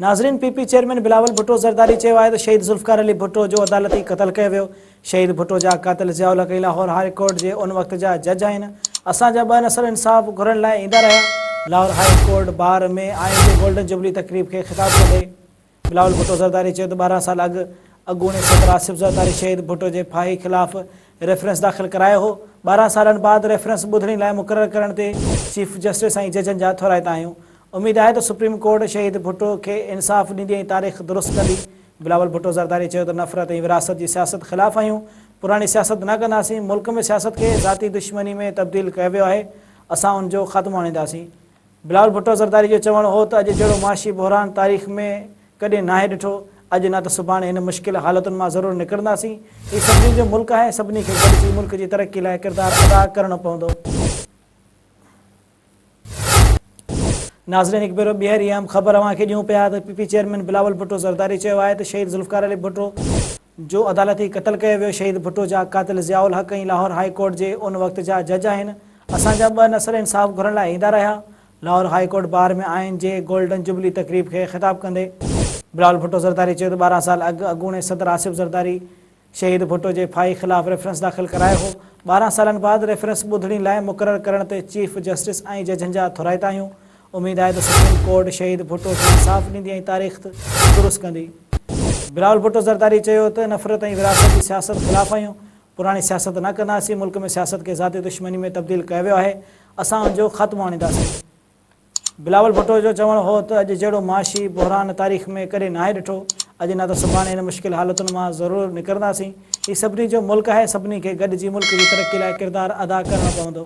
ناظرين P P chairman Bilawal Bhutto Zardari چيو آهي ته شهيد ذوالفقار علي ڀٽو جو عدالتي قتل ڪيو ويو، شهيد ڀٽو جا قاتل ضياء الحق ئي لاهور هاء ڪورٽ جي ان وقت جا جج آهن، اسان جا ٻه نسل انصاف گهرڻ لاء ايندا رهيا. لاهور هاء ڪورٽ بار ۾ آئين جي گولڊن جوبلي تقريب کي خطاب ڪندي بلاول ڀٽو زرداري چيو ته ٻارهن سال اڳ اڳوڻي صدر آصف زرداري شهيد ڀٽو جي ڦاهي خلاف ريفرنس داخل ڪرايو هو، ٻارهن سالن بعد ريفرنس ٻڌڻي لاء مقرر ڪرڻ تي چيف جسٽس ۽ ججن جا ٿورائتا آهيون، اميد آهي ته سپريم ڪورٽ شهيد ڀٽو کي انصاف ڏيندي ۽ تاريخ درست ڪندي، بلاول ڀٽو زرداري چيو ته نفرت ۽ ورهاست جي سياست خلاف آهيون، پراڻي سياست نه ڪنداسين، ملڪ ۾ سياست کي ذاتي دشمني ۾ تبديل ڪيو ويو آهي، اسان ان جو خاتمو آڻينداسين. بلاول ڀٽو زرداري جو چوڻ هو ته اڄ جهڙو معاشي بحران تاريخ ۾ ڪڏهن ناهي ڏٺو، اڄ نه ته سڀاڻي هن مشڪل حالتن مان ضرور نڪرنداسين، هي سڀني جو ملڪ آهي، سڀني کي گڏجي ملڪ جي ترقي لاء ڪردار ادا ڪرڻو پوندو. ناظرين هڪ ڀيرو ٻيهر اها اهم خبر اوهان کي ڏيون پيا ته P P chairman Bilawal Bhutto Zardari چيو آهي ته شهيد ذوالفقار علي ڀٽو، جو عدالتي قتل ڪيو ويو شهيد ڀٽو جا قاتل ضياء الحق ۽ لاهور هاء ڪورٽ جي ان وقت جا جج آهن اسان جا ٻه نسل انصاف گهرڻ لاء ايندا رهيا لاهور هاء ڪورٽ بار ۾ آهن جي گولڊن جوبلي تقريب کي خطاب ڪندي بلاول ڀٽو زرداري چيو ته ٻارهن سال اڳ اڳوڻي صدر آصف زرداري شهيد ڀٽو جي ڦاهي خلاف ريفرنس داخل ڪرايو هو ٻارهن سالن بعد ريفرنس ٻڌڻي لاء مقرر ڪرڻ تي چيف جسٽس ۽ ججن جا ٿورائتا آهيون اميد آهي ته سپريم ڪورٽ شهيد ڀٽو کي انصاف ڏيندي ۽ تاريخ درست ڪندي. بلاول ڀٽو زرداري چيو ته نفرت ۽ ورهاست جي سياست خلاف آهيون، پراڻي سياست نه ڪنداسين، ملڪ ۾ سياست کي ذاتي دشمني ۾ تبديل ڪيو ويو آهي، اسان ان جو خاتمو آڻينداسين. بلاول ڀٽو جو چوڻ هو ته اڄ جهڙو معاشي بحران تاريخ ۾ ڪڏهن ناهي ڏٺو، اڄ نه ته سڀاڻي هن مشڪل حالتن مان ضرور نڪرنداسين، هي سڀني جو ملڪ آهي، سڀني کي گڏجي ملڪ جي ترقي لاء ڪردار ادا ڪرڻو پوندو.